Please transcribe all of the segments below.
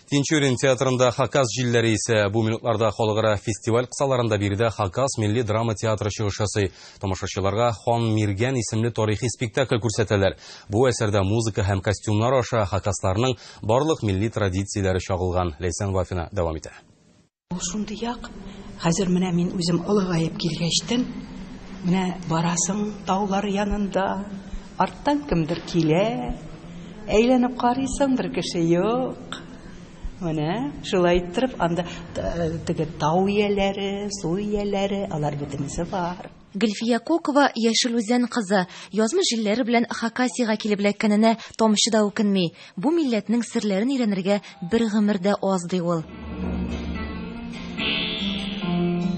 Тинчурин театрында Хакас җилләре исә бу минутларда халыкара фестиваль кысаларында биредә Хакас милли драма театры чыгыш ясый. Тамашачыларга Хан Миргән исемле тарихи спектакль күрсәтәләр. Бу әсәрдә музыка һәм костюмнар аша хакасларның барлык милли традицияләре чагылган. Ләйсән Вафина дәвам итә. Ул шундыйак, хәзер менә мин үзем олыгаеп килгәчтен, менә барасың таулар янында, арттан кемдер килә, әйләнеп карыйсың, бер кеше юк. Менә шулай иттереп анда теге тау ияләре, су ияләре, алар бөтенесе бар. Гөлфия Кокова, Яшел Үзән кызы, язмыш җилләре белән Хакасиягә килеп эләккәненә тамчы да үкенми. Бу милләтнең серләрен өйрәнергә бер гомер дә аз, ди ул.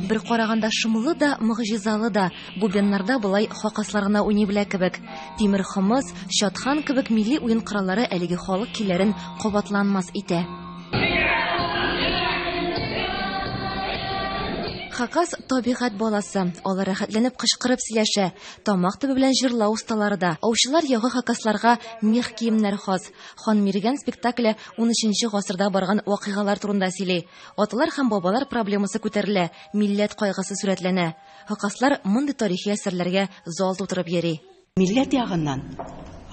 Бер караганда шомлы да, могҗизалы да, бубеннарда болай хакаслар гына уйный белә кебек. Тимер хомыс, чатхан кебек милли уен кораллары әлеге халык көйләрен кабатланмас итә. Хакас табигать баласы. Алар рәхәтләнеп кычкырып сөйләшә. Тамак төбе белән җырлау осталары да. Аучылар ягы хакасларга мех киемнәр хас. Хан Миргән спектакле 13 гасырда барган вакыйгалар турында сөйли. Аталар һәм бабалар проблемасы күтәрелә, милләт кайгысы сурәтләнә. Хакаслар мондый тарихи әсәрләргә зал тутырып йөри. Милләт ягыннан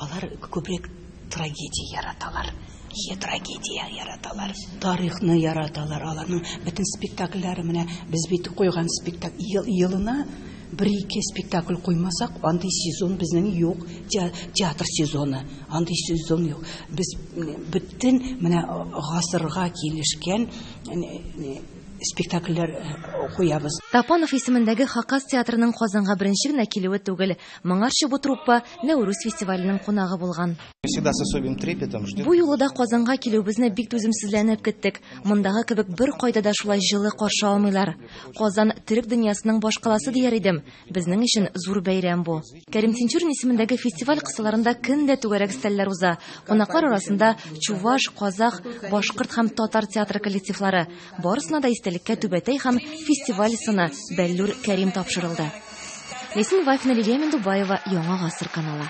алар күбрәк трагедия яраталар. Е трагедия яраталар. Тарихны яраталар. Аларның бөтен спектакльләре менә без бит куйган спектакль ел, елына бер-ике спектакль куймасак, андый сезон безнең юк, театр сезоны, андый сезон юк. Без бөтен менә гасырга килешкән спектакльләр куябыз. Тапанов исемендәге Хакас театрының Казанга беренче генә килүе түгел. Моңарчы бу труппа Нәүрүз фестиваленең кунагы булган. Бу юлы да Казанга килүебезне бик түземсезләнеп көттек. Мондагы кебек беркайда да шулай җылы каршы алмыйлар. Казан, төрек дөньясының башкаласы дияр идем. Безнең өчен зур бәйрәм бу. Кәрим Тинчурин исемендәге фестиваль кысаларында көн дә түгәрәк өстәлләр уза. Кунаклар арасында чуваш, казах, башкорт һәм татар театры коллективлары. Барысына да истәлеккә түбәтәй һәм фестиваль сыны Бәллүр Кәрим тапшырылды. Лесин Вафина Лилия Мендубаева, Яңа гасыр каналы.